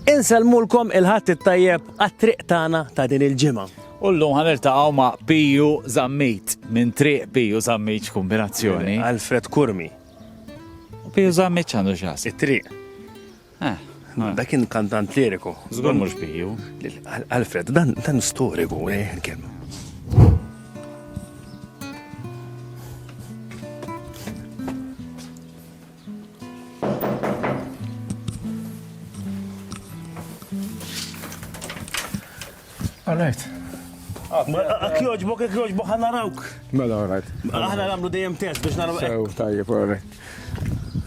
Insellmulkom il-ħadd it-tajjeb għat-triq tagħna ta' din il-ġimgħa. U llum ħaniltaqgħu ma' Piju Zammit minn triq Piju Zammit kombinazzjoni. Alfred Kurmi. Piju Zammit għandu xas. It-triq. Eh, eh. Dak kien kantant liriku. Żgur mhux Piju. Alfred, dan dan storiku, eh, kemm. Alright. Ak joġbok, ak joġbok, ħana rawk. Mela, alright. Aħna namlu dejjem test biex naraw. Sew, tajjeb, alright.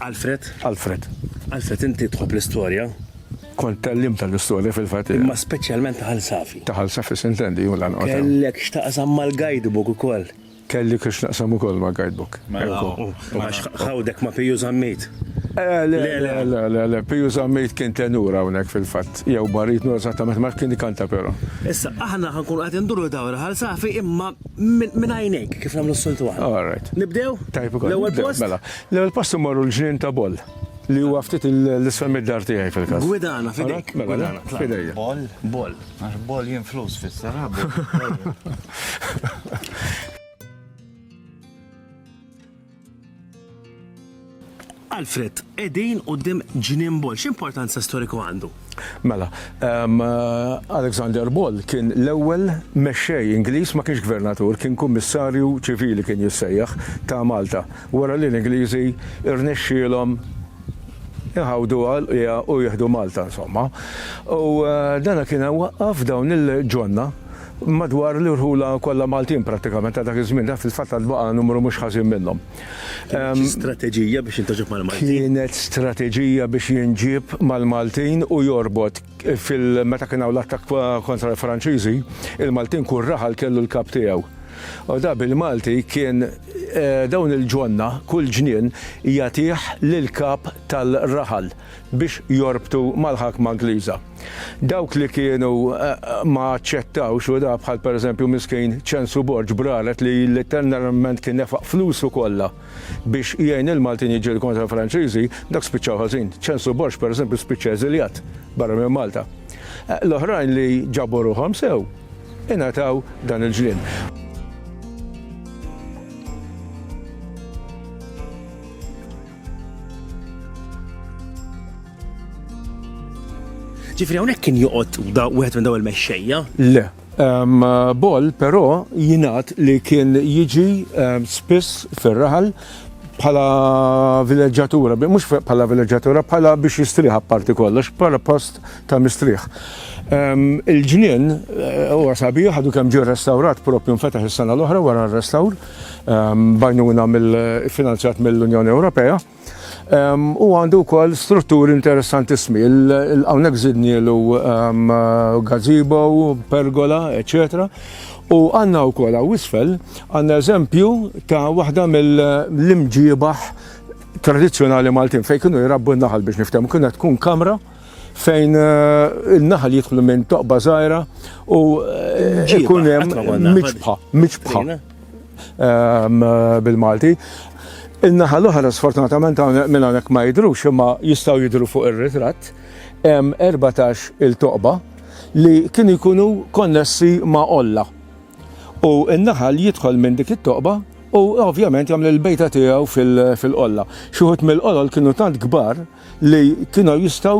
Alfred? Alfred. Alfred, inti tħob l-istoria? Kont tal-lim tal-istoria fil-fat. Ma specialment taħal safi. Taħal safi sintendi, u l-għan. Kellek xtaqsam mal-guidebook u koll. Kelli kiex naqsam ukoll ma' guidebook. Għax ħawdek ma' Piju Zammit? Le, le, le, le, Piju Zammit kien tenur hawnhekk fil-fatt, jew marid mhu eżattament, ma kien ikanta però. Issa aħna ħa nkunu qed induru dawra Ħal Safi imma minn għajnejk kif nagħmlu s-soltu aħna. All right. Nibdew? Tajjeb ukoll. L-ewwel post? Mela, l-ewwel post immorru l-Ġnien ta' Boll li huwa ftit 'l isfel mid-dar tiegħi fil-każ. Gwidana, f'idejk. Gwidana. F'idejja. Boll? Boll. Għax boljin flus fisser Alfred, edin u dim ġnien bol, x'importanza storiku għandu? Mela, um, Alexander Ball kien l-ewwel mexxej Ingliż ma kienx gvernatur, kien kummissarju ċivili kien jissejjaħ ta' Malta. Wara li l-Ingliżi rnexxielhom Iħawduha l-qigħa u jieħdu Malta insomma. U dan kien waqqaf dawn il-ġonna madwar l-irħula kollha Maltin prattikament ta' dak iż-żmien, dan fil-fatt għad baqa' numru mhux ħażin minnhom. Kienet xi strateġija biex jintaġab mal-Maltin? Kienet strateġija biex jinġieb mal-Maltin u jorbot. Fil-meta kien hawn l-attakk kontra l-Franċiżi, il-Maltin kull raħal kellu l-kap tiegħu. U da bil-Malti kien dawn il-ġonna, kull ġnien jagħtih lill-kap tal-raħal biex jorbtu mal-ħakma Ingliża. Dawk li kienu ma aċċettawx u da bħal pereżempju miskin Ċensu Borg b'raret li litteralment kien nefaq flusu kollha. Biex jgħin lill-Maltin jiġġieldu kontra l-Franċiżi, dak spiċċaw ħażin. Ċenslu Borg, pereżempju, spiċċa eżiljat barra minn Malta. L-oħrajn li ġabu ruħhom sew ingħataw dan il-ġnien. Ġifri hawnhekk kien joqgħod wieħed minn daw il-mexxejja? Le. Boll, però, jingħad li kien jiġi spiss fir-raħal bħala vileġġatura, mhux bħala vileġġatura, bħala biex jistrieħ apparti kollox, bħala post ta' mistrieħ. Il-ġnien eh, huwa sabiħ ħadu kemm ġie restawrat propju nfetaħ is-sena l-oħra wara r-restawr bajnuna mill-finanzjat mill-Unjoni Ewropea. U għandu wkoll strutturi interessantissimi. Hawnhekk żidnielu gazebo, pergola, eċetera. U għandna wkoll hawn isfel għandna eżempju ta' waħda mill-imġiebaħ tradizzjonali Maltin fejn kienu jrabbu n-naħal biex niftehmu. Kienet tkun kamra fejn eh, il-naħal jidħlu minn toqba żgħira u eh, ikun hemm miċbħa, miċbħa. bil-Malti. In-naħa l-oħra sfortunatament minn hawnhekk ma jidhrux imma jistgħu jidhru fuq ir-ritratt hemm 14 il-toqba li kienu jkunu konnessi ma' Olla. U n-naħal jidħol minn dik it-toqba u ovvjament jagħmel il-bejta tiegħu fil-qolla. Xi wħud mill-qolol kienu tant kbar li kienu jistgħu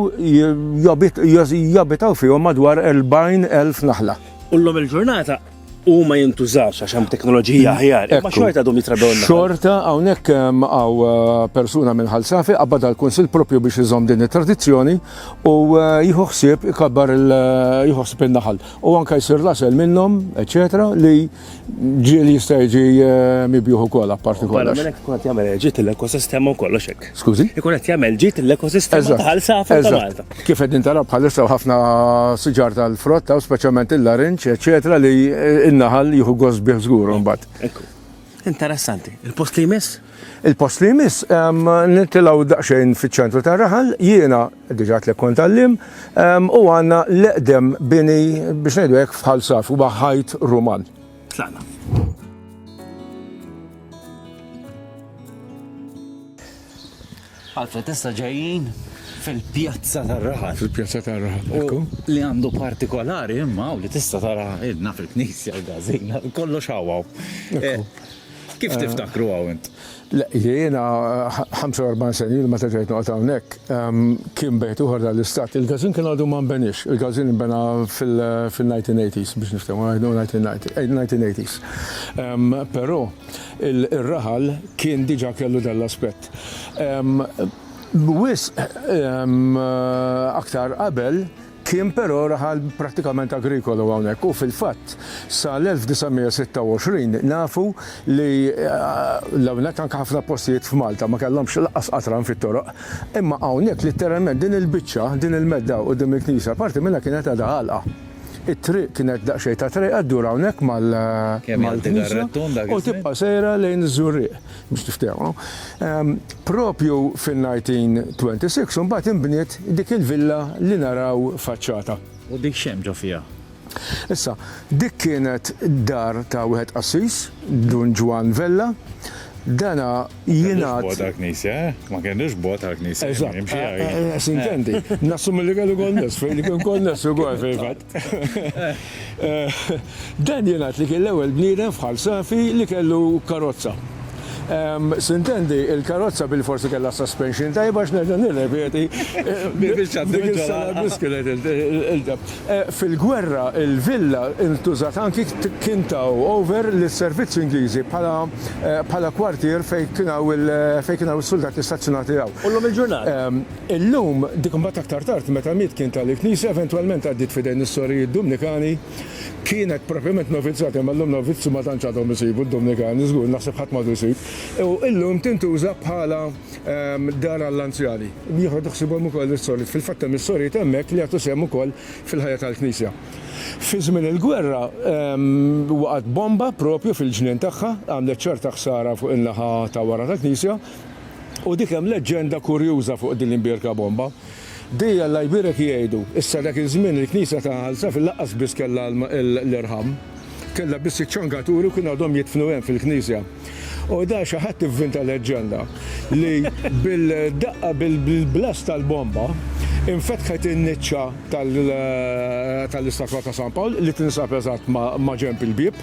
jabitaw fihom madwar 40,000 naħla. U llum il-ġurnata u ma jintużax għax hemm teknoloġija aħjar. Ma xorta għadhom jitrabew Xorta hawnhekk ehm, għaw eh, persuna minn ħalsafi qabad għall-Kunsill propju biex iżomm din it-tradizzjoni u eh, jieħu ħsieb ikabbar eh, jieħu ħsieb in-naħal. U anke jsir lasel minnhom, eċetera, li ġieli jista' jiġi mibjuħ ukoll apparti kollox. Barra minn hekk tkun qed jagħmel ġiet l-ekosistema u kollox hekk. Skużi? Ikun qed jagħmel ġid l-ekosistema ta' Ħal Safar ta' Malta. Kif qegħdin taraw bħalissa ħafna siġar tal-frotta u speċjalment il-larinġ, eċetera, li n-naħal jieħu gost bih żgur mbagħad. Interessanti. Il-post li jmiss? Il-post li jmiss, nitilgħu daqsxejn fiċ-ċentru tar-raħal, jiena diġà tlek kont għallim, u għandna l-eqdem bini biex ngħidu hekk f'ħal saf u ħajt Ruman. Tlaqna. Alfred, issa ġejjin fil-pjazza tar-raħal. Fil-pjazza tar-raħal. U li għandu partikolari imma u li tista' tara ilna fil-knisja l-gazina, kollox hawaw. Eh, Kif tiftakru hawn int? Le, jiena 45 sena ilu meta ġejt noqgħod hawnhekk, kien bejt uħor dal-istat. Il-gazin kien għadu ma nbenix, il-gazin nbena fil-1980s biex niftehmu, 1980s. Però ir-raħal kien diġà kellu dan l-aspett. Wisq aktar qabel Kien però raħal prattikament agrikolu hawnhekk u fil-fatt sa l-1926 nafu li hawnhekk anke ħafna postijiet f'Malta ma kellhomx lanqas qatran fit-toroq. Imma hawnhekk litteralment din il-biċċa, din il-medda quddiem il-knisja parti minnha kienet għadha għalqa. It-triq kienet daqsxejn ta' trejqa ddur hawnhekk mal-knisja u tibqa' sejra lejn iż-Żurrieq. biex tiftehmu, propju fin-1926 imbagħad inbniet dik il-villa li naraw faċċata. U dik x'hemm ġo fiha? Issa, dik kienet dar ta' wieħed qassis, Dun Ġwann Vella. Dana jingħad. Ma kellux bogħod għall-knisja, eh? Ma kellux bogħod għall-knisja. Eżatt. Sintendi. Nassumi li kellu konness fejn kien konness ukoll fil-fatt. Dan jingħad li kien l-ewwel bniedem f'Ħal Safi li kellu karozza. Sintendi, il-karozza bilforsi kellha suspension tajba għax nerġa' nirrepeti, dik is-sena biss kienet il-ġab. Fil-gwerra l-villa ntużat anki kien taw over lis-servizzi Ingliżi bħala kwartier fejn kien hawn is-suldati stazzjonati hawn. U llum il-ġurnata? Illum, dik imbagħad aktar tard meta miet kien ta lill-Knisja, eventwalment għaddiet f'idejn is-sorijiet Dumnikani, kienet propjament novizzjat, imma llum novizzju ma tantx għadhom isibu d-Dumnikani, żgur, naħseb ħadd m'għadu jsib, u illum tintuża bħala dar għall-anzjani, jieħodu ħsiebhom ukoll is-sorijiet, fil-fatt hemm is-sorijiet hemmhekk li jagħtu sehem ukoll fil-ħajja tal-Knisja. Fi żmien il-gwerra waqgħet bomba propju fil-ġnien tagħha, għamlet ċerta ħsara fuq in-naħa ta' wara tal-Knisja, U dik hemm leġġenda kurjuża fuq din l-imbierka bomba. Dei Alla jbierek jgħidu, issa dak iż-żmien il-knisja ta' Għalsaf laqqas biss kellha l-irħam. Kellha biss iċ-ċangaturi u kienu għadhom jidfnu hemm fil-knisja. U da xi ħadd ivvinta leġġenda li bil-daqqa bil-blast tal-bomba infetħet in-niċċa tal-istatwa ta' San Pawl li tinsab eżatt maġenb il-bieb.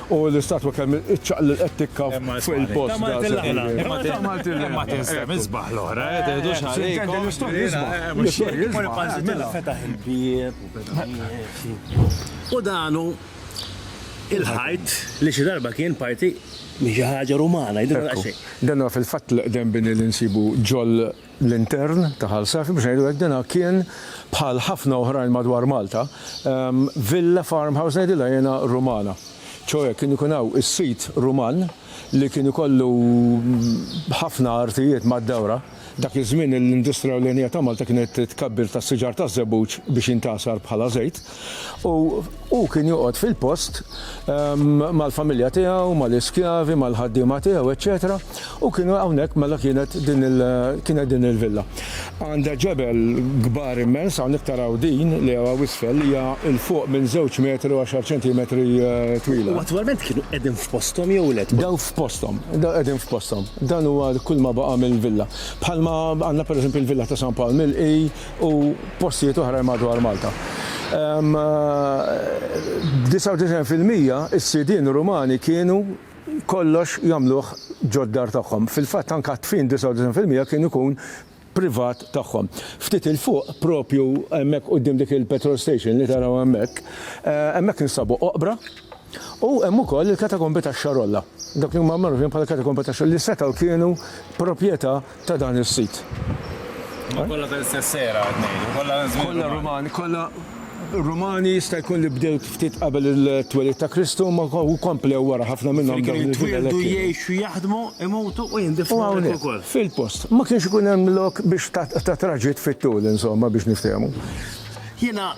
U l-istatwa kemm iċċaqlilqet tikka fuq il-post. Imma għamiltilha aħna. Imma għamiltilha. Imma tinsab isbaħ l-oħra, eh, teħdux għalikom. L-istorja isbaħ. L-istorja isbaħ. Imma panżitilha fetaħ il-bieb u beda miexi. U dan hu il-ħajt li xi darba kien parti minn xi ħaġa Rumana, jidhirha daqsxejn. Dan huwa fil-fatt l-eqdem bini li nsibu ġol. l-intern ta' Ħal Safi, biex ngħidu hekk, dina kien bħal ħafna oħrajn madwar Malta, villa farmhouse ngħidilha jiena Rumana. Ċoe kien ikun hawn is-sid Ruman li kien ikollu ħafna artijiet mad-dawra. Dak iż-żmien l-industrija ewlenija ta' Malta kienet it-tkabbir tas-siġar taż-żebbuġ biex jintgħasar bħala żejt. U hu kien joqgħod fil-post mal-familja tiegħu, mal-iskjavi, mal-ħaddiema tiegħu, eċċetera U kienu hawnhekk mela kienet din il kienet din il-villa. Għandha ġebel kbar immens, hawnhekk taraw din li hawn hawn isfel li hija 'l fuq minn żewġ metri u għaxar ċentimetri twila. U attwalment kienu qegħdin f'posthom jew le? Daw f'posthom, daw qegħdin f'posthom. Dan huwa kull ma baqa' mill-villa. Bħalma għandna pereżempju l-villa ta' San Pawl Milqi, u postijiet oħrajn madwar Malta. B'disaw fil-mija is-sidien Rumani kienu kollox jagħmluh ġod-dar tagħhom. Fil-fatt anke għat-tfin 99 fil-mija kien ikun privat tagħhom. Ftit 'il fuq, propju hemmhekk quddiem dik il-petrol station li taraw hemmhekk, hemmhekk instabu oqbra u hemm ukoll il-katakombi tax-Xarolla. Dawk li huma magħrufin bħala katakombi tax-Xarolla li setgħu kienu propjetà ta' dan is-sit. Imma kollha tal-istess era qed ngħidu, kollha żmien Rumani. Kollha Rumani, kollha Rumani jista' jkun li bdew ftit qabel it-twelid ta' Kristu imma komplew wara ħafna minnhom dawn il-villa. Kienu jitwieldu, jgħixu, jaħdmu, imutu u jindifnu hawnhekk ukoll. Fil-post. Ma kienx ikun hemm lok biex ta' traġitt fit-tul insomma biex niftehmu. Jiena